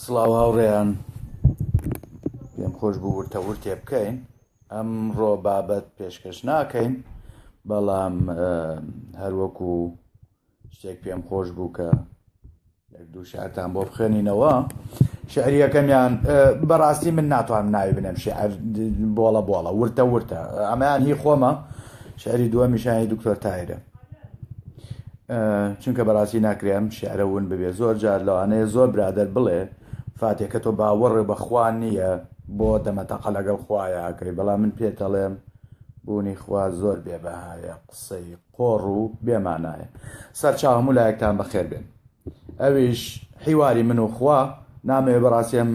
سڵاو هاوڕێیان پێم خۆش بوو ورتە ورتێ بکەین ئەم ڕۆ بابەت پێشکەش ناکەین بەڵام هەروەکو شتێک پێم خۆش بوو کە یەک دوو شعرتان بۆ بخێنینەوە شعریەکەمیان بەڕاستی من ناتوان ناوی بنێم شعر بۆڵە بۆڵە ورتە ورتە ئەمەیان هی خۆمە شعری دووە میشانی دکتۆر تایرە چونکە بەڕاستی ناکرێ ئەم شعرە ون ببێ زۆر جار لەوانەیە زۆر برادەر بڵێ فاتێ کە تۆ باوەڕێ بەخوا نییە بۆ دەمەتەقە لەگەڵ خوایەکەی بەڵام من پێتەڵێم بوونی خوا زۆر بێبەهایە قسەی قۆڕ و بێمانایە سەرچاو هەموو لایەکتان بەخێر بێن ئەویش حیواری من و خوا نامەوێ بەڕاستیم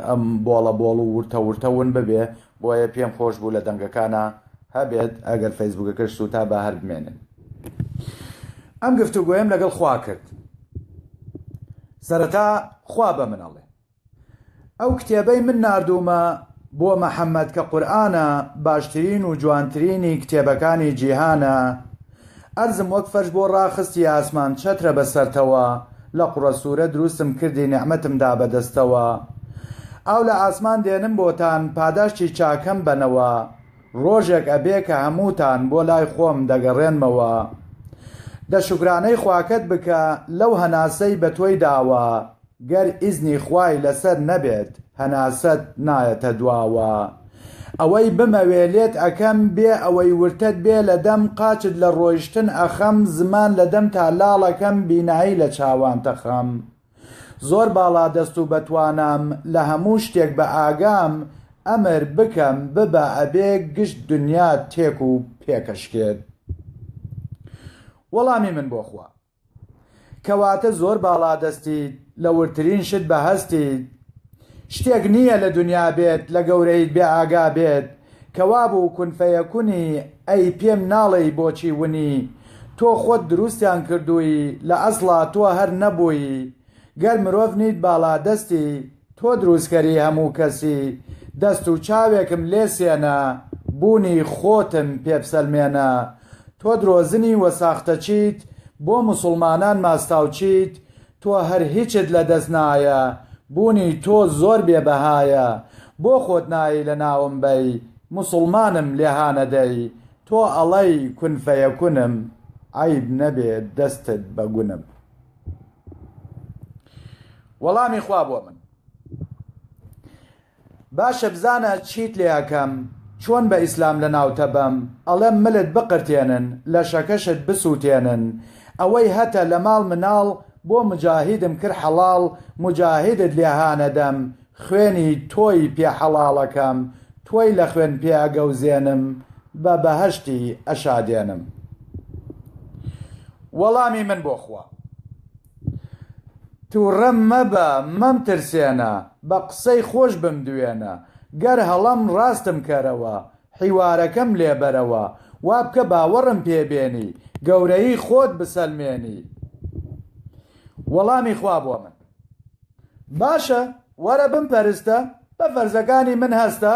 ئەم بۆڵە بۆڵ و ورتە ورتە ون ببێ بۆیە پێم خۆش بوو لە دەنگەکانا هەبێت ئەگەر فەیسبوکەکەش سوتا با هەر بمێنن ئەم گفتوگۆیم لەگەڵ خوا کرد سەرەتا خوا بە منەڵێ ئەو کتێبەی من نردومە بۆ مەحەممەد کە قورآە باشترین و جوانترینی کتێبەکانی جیهانە ئەرزم وەک فەرش بۆ ڕاخستی ئاسمان چەترە بە سەرتەوە لە قوڕە سوورە دروستم کردی نیعمەتم دا بە دەستەوە ئاو لە ئاسمان دێنم بۆتان پاداشتی چاکەم بەنەوە ڕۆژێک ئەبێ کە هەمووتان بۆ لای خۆم دەگەڕێنمەوە دە شوکرانەی خواکەت بکە لەو هەناسەی بە تۆی داوە. گەر ئیزنی خوای لەسەر نەبێت هەناسەت نایەتە دواوە ئەوەی بمەوێ لێت ئەکەم بێ ئەوەی ورتەت بێ لە دەم قاچت لە ڕۆیشتن ئەخەم زمان لە دەمتا لاڵەکەم بینایی لە چاوانت ئەخەم زۆر باڵا دەست و بەتوانام لە هەموو شتێک بە ئاگام ئەمر بکەم ببە ئەبێ گشت دنیات تێک و پێکەشکێت وەڵامی من بۆ خوا. کەواتە زۆر باڵادەستیت، لە وردترین شت بە هەستیت. شتێک نییە لە دنیا بێت لە گەورەیت بێ ئاگا بێت، کە وابوو کون فەیەکونی ئەی پێم ناڵێی بۆچی ونی؟ تۆ خۆت دروستیان کردووی لە ئەسڵا تۆ هەر نەبووی، گەر مرۆڤ نیت باڵادەستی. تۆ دروستکەری هەموو کەسی دەست و چاوێکم لێ سێنە بوونی خۆتم پێ بسەلمێنە تۆ درۆزنی وە ساختەچیت بۆ موسوڵمانان ماستاوچیت تۆ هەر هیچت لە دەست نایە بوونی تۆ زۆر بێ بەهایە بۆ خۆت نایەی لە ناوم بەی موسوڵمانم لێ هانەدەی تۆ ئەڵەی کون فەیەکونم عەیب نەبێ دەستت بە گونم. وەڵامی خوا بۆ من باشە بزانە چیت لێەکەم چۆن بە ئیسلام لە ناوتە بەم ئەڵێم ملت بقرتێنن لە شەکەشت بسووتێنن ئەوەی هەتە لە ماڵ مناڵ بۆ مجاهیدم کرد حەڵاڵ مجاهیدت لێهانەدەم خوێنی تۆی پێ حەڵاڵەکەم تۆی لە خوێن پێ ئەگەوزێنم بە بەهەشتی ئەشادێنم وەڵامی من بۆ خوا توڕە مەبە مەمترسێنە بە قسەی خۆش بمدوێنە گەر هەڵەم ڕاستم کەرەوە حیوارەکەم لێ بەرەوە وا بکە باوەڕم پێ بێنی گەورەیی خۆت بسەلمێنی وەڵامی خوا بۆ من باشە وەرە بمپەرستە بە فەرزەکانی من هەستە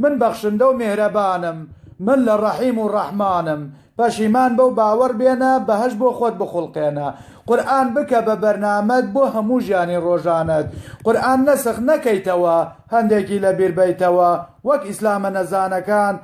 من بەخشندە و میهرەبانم من لە ڕەحیم و ڕەحمانم پەشیمان بە و باوەڕ بێنە بەهەشت بۆ خۆت بخوڵقێنە قورئان بکە بە بەرنامەت بۆ هەموو ژیانی ڕۆژانەت قورئان نەسخ نەکەیتەوە هەندێکی لەبیر بەیتەوە وەک ئیسلامە نەزانەکان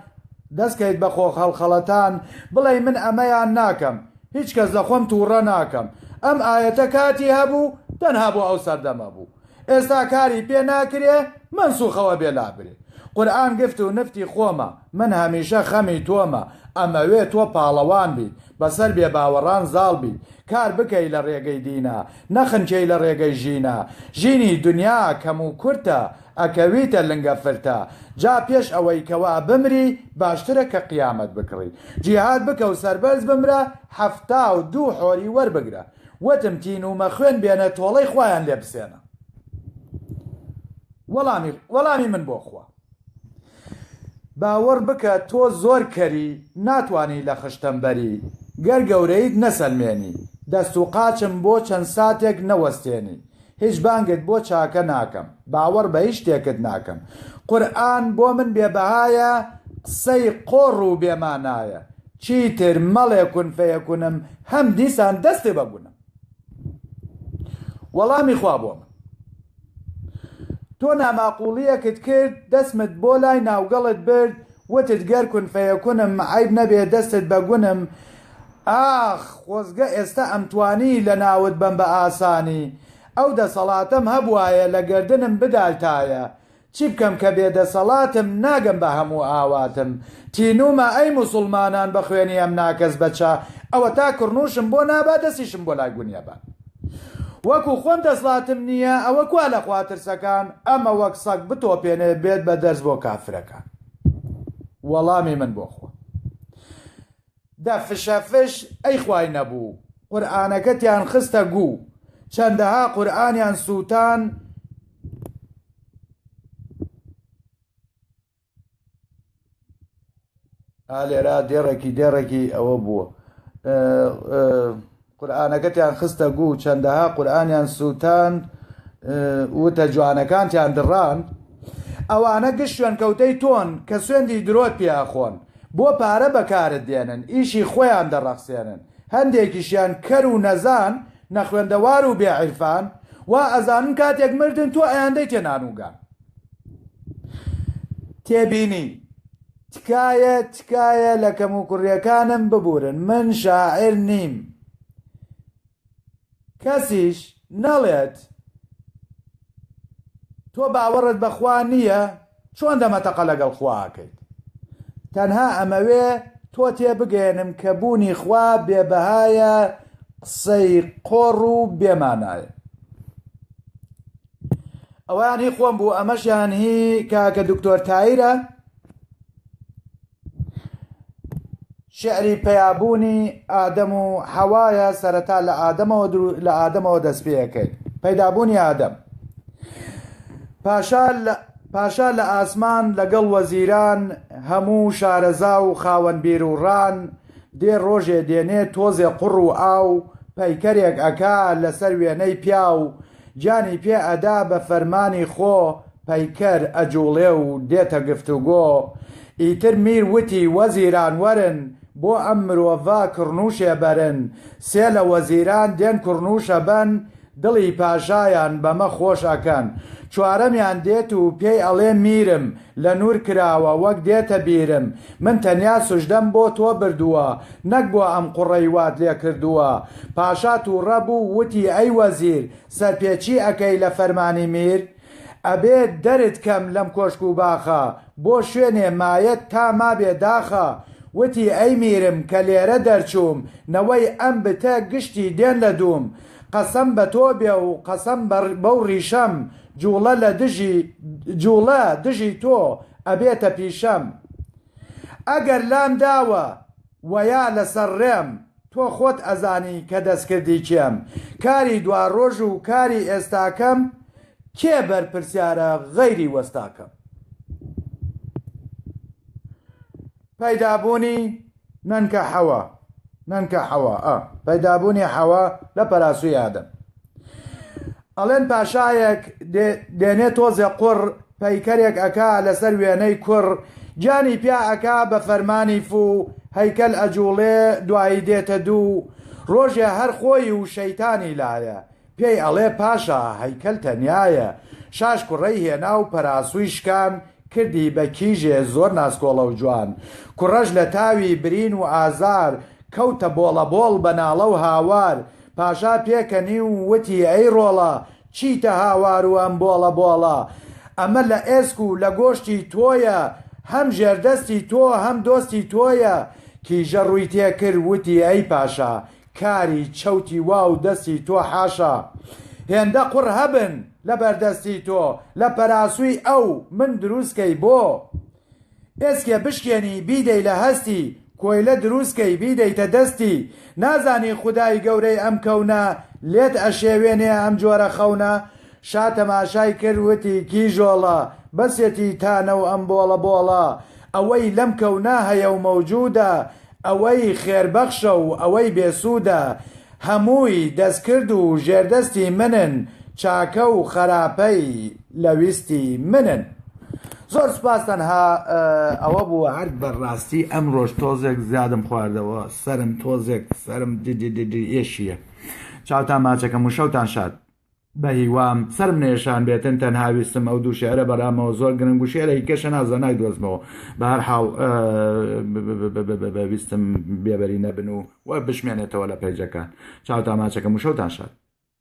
دەستکەیت بە خۆخەڵخەڵەتان بڵێی من ئەمەیان ناکەم هیچ کەس لە خۆم توڕە ناکەم ئەم ئایەتە کاتی هەبوو تەنها بۆ ئەو سەردەمە بوو ئێستا کاری پێ ناکرێ مەنسوخەوە بێ لابرێ قورئان گفت و نفتی خۆمە من هەمیشە خەمی تۆمە ئەمەوێ تۆ پاڵەوان بیت بەسەر بێ باوەڕان زاڵ بیت کار بکەی لە ڕێگەی دینا نەخنکێی لە ڕێگەی ژینا ژینی دنیا کەم و کورتە ئەکەویتە لنگە فرتە جا پێش ئەوەی کەوا بمری باشترە کە قیامەت بکڕی جیهاد بکە و سەربەرز بمرە حەفتا و دوو حۆری وەربگرە وتم تینوومە خوێن بێنە تۆڵەی خوایان لێ بسێنە وەڵامی وەڵامی من بۆ خوا باوەڕ بکە تۆ زۆر کەری ناتوانی لە خشتەم بەری گەر گەورەیت نەسەلمێنی دەست و قاچم بۆ چەند ساتێک نەوەستێنی هیچ بانگت بۆ چاکە ناکەم باوەڕ بە هیچ شتێکت ناکەم قورئان بۆ من بێ بەهایە قسەی قۆڕ و بێ مانایە چیتر مەڵێ کون فەیەکونم هەم دیسان دەستی بە گونم وەڵامی خوا بۆ من تۆ ناماقوڵیەکت کرد دەسمت بۆ لای ناوگەڵت برد وتت گەر کون فەیەکونم عیب نەبێ دەستت بە گونم ئاخ خۆزگە ئێستا ئەمتوانی لەناوت بەم بە ئاسانی ئەو دەسەڵاتەم هەبوایە لە گەردنم بدایتایە چی بکەم کە بێ دەسەڵاتم ناگەم بە هەموو ئاواتم تینوومە ئەی موسوڵمانان بە خوێنی ئەم ناکەس بەچە ئەوەتا کڕنووشم بۆ نابا دەسیشم بۆ لای گونیە با وەکو خۆم دەسڵاتم نییە ئەوە کوا لە خوا ترسەکان ئەمە وەک سەگ بتۆپێنێ بێت بە دەرس بۆ کافرەکان وەڵامی من بۆ خۆم دە فشە فش ئەی خوای نەبوو قورئانەکەتیان خستە گوو چەندەها قورئانیان سووتان ئا لێرا دێڕێکی دێڕێکی ئەوە بووە ئە ئە. قورئانەکەتیان خستە گوو چەندەها قورئانیان سووتاند وتە جوانەکانتیان دڕاند ئەوانە گشت شوێنکەوتەی تۆن کە سوێندی درۆت پێ ئەخۆن بۆ پارە بەکارت دێنن ئیشی خۆیان دەڕەخسێنن هەندێکیشیان کەر و نەزان نەخوێندەوار و بێ عیرفان وا ئەزانن کاتێک مردن تۆ ئەیاندەیتێ نانوگان تێبینی. تکایە تکایە لە کەم و کوڕیەکانم ببورن من شاعیر نیم کەسیش نەڵێت تۆ باوەڕت بەخوا نییە چۆن دەمەتەقە لەگەڵ خواکەیت تەنها ئەمەوێ تۆ تێ بگەێنم کە بوونی خوا بێبەهایە قسەی قۆڕ و بێمانایە ئەوەیان هی خۆم بوو ئەمەشیان هی کاکە دکتۆر تایرە شعری پەیابوونی ئادەم و حەوایە سەرەتا لە ئادەمەوە لە ئادەمەوە دەست پێەکەیت پەیدابوونی ئادەم پاشا پاشا لە ئاسمان لەگەڵ وەزیران هەموو شارەزا و خاوەن بیر و ڕان دێ ڕۆژێ دێنێ تۆزێ قڕ و ئاو پەیکەرێک ئەکا لەسەر وێنەی پیاو گیانی پێ ئەدا بە فەرمانی خۆ پەیکەر ئەجوڵێ و دێتە گفتوگۆ ئیتر میر وتی وەزیران وەرن بۆ ئەم مرۆڤە کڕنوشێ بەرن سێ لە وەزیران دێن کڕنوشە بەن دڵی پاشایان بەمە خۆش ئەکەن چوارەمیان دێت و پێی ئەڵێ میرم لە نور کراوە وەک دێتە بیرم من تەنیا سوژدەم بۆ تۆ بردووە نەک بۆ ئەم قوڕەی وات لێ کردووە. پاشا تووڕە بوو وتی ئەی وەزیر سەرپێچی ئەکەی لە فەرمانی میر؟ ئەبێ دەرت کەم لەم کۆشک و باخە، بۆ شوێنێ مایەت تا مابێ داخە. وتی ئەی میرم کە لێرە دەرچووم نەوەی ئەم بتە گشتی دێن لە دووم. قەسەم بە تۆ بێ و قەسەم بەو ڕیشەم جوڵە لە دژی جوڵە دژی تۆ ئەبێتە پیشەم ئەگەر لام داوە وەیا لە سەر ڕێم تۆ خۆت ئەزانی کە دەستکردی کێم کاری دواڕۆژ و کاری ئێستاکەم کێ بەرپرسیارە غەیری وەستاکەم پەیدابوونی نەنکە حەوا نەنکە حەوا ئە پەیدابوونی حەوا لە پەراسوی ئادەم ئەڵێن پاشایەک دێنێ تۆزێ قڕ پەیکەرێک ئەکا لەسەر وێنەی کوڕ جانی پیا ئەکا بە فەرمانی فو هەیکەل ئەجوڵێ دوایی دێتە دوو ڕۆژێ هەر خۆی و شەیتانی لایە پێی ئەڵێ پاشا هەیکەل تەنیایە. شاش کوڕەی هێنا و پەراسووی شکان، کردی بە کیژێ زۆر ناسکۆڵە و جوان. کوڕەش لە تاوی برین و ئازار، کەوتە بۆڵەبۆڵ بە ناڵە و هاوار. پاشا پێکەنی و وتی، ئەی ڕۆڵە، چیتە هاوار و ئەم بۆڵەبۆڵە؟ ئەمە لە ئێسک و لە گۆشتی تۆیە، هەم ژێردەستی تۆ، هەم دۆستی تۆیە. کیژە ڕووی تێ کرد، وتی، ئەی پاشا، کاری چەوتی وا و دەستی تۆ حاشا هێندە قوڕ هەبن لە بەردەستی تۆ لە پەراسووی ئەو من دروست کەی بۆ ئێسکێ بشکێنی بیدەی لە هەستی کۆیلە دروست کەی بیدەیتە دەستی نازانی خودای گەورەی ئەم کەونە لێت ئەشێوێنێ ئەم جۆرە خەونە شا تەماشای کرد وتی کیژۆڵە بەسێتی تانە و ئەم بۆڵە بۆڵە ئەوەی لەم کەونا هەیە و مەوجوودە ئەوەی خێربەخشە و ئەوەی بێسوودە، هەمووی دەستکرد و ژێردەستی منن، چاکە و خەراپەی لە ویستی منن. زۆر سوپاس تەنها ئەوە بوو. هەر بە ڕاستی ئەمڕۆش تۆزێک زیادم خواردەوە سەرم تۆزێک سەرم ددددد ئێشیە چاوتان ماچەکەم وشەوتان شاد. بەهیوام سەرم نەیشان بێتن تەنها ویستم ئەو دوو شعرە بەرامەوە زۆر گرنگ و شعرە هیکە شەنازە نایدۆزمەوە بە هەر حاڵ ویستم بێبەری نەبن و و بشمێنێتەوە لە پەیجەکان چاوتان ماچەکەم و شەوتان شاد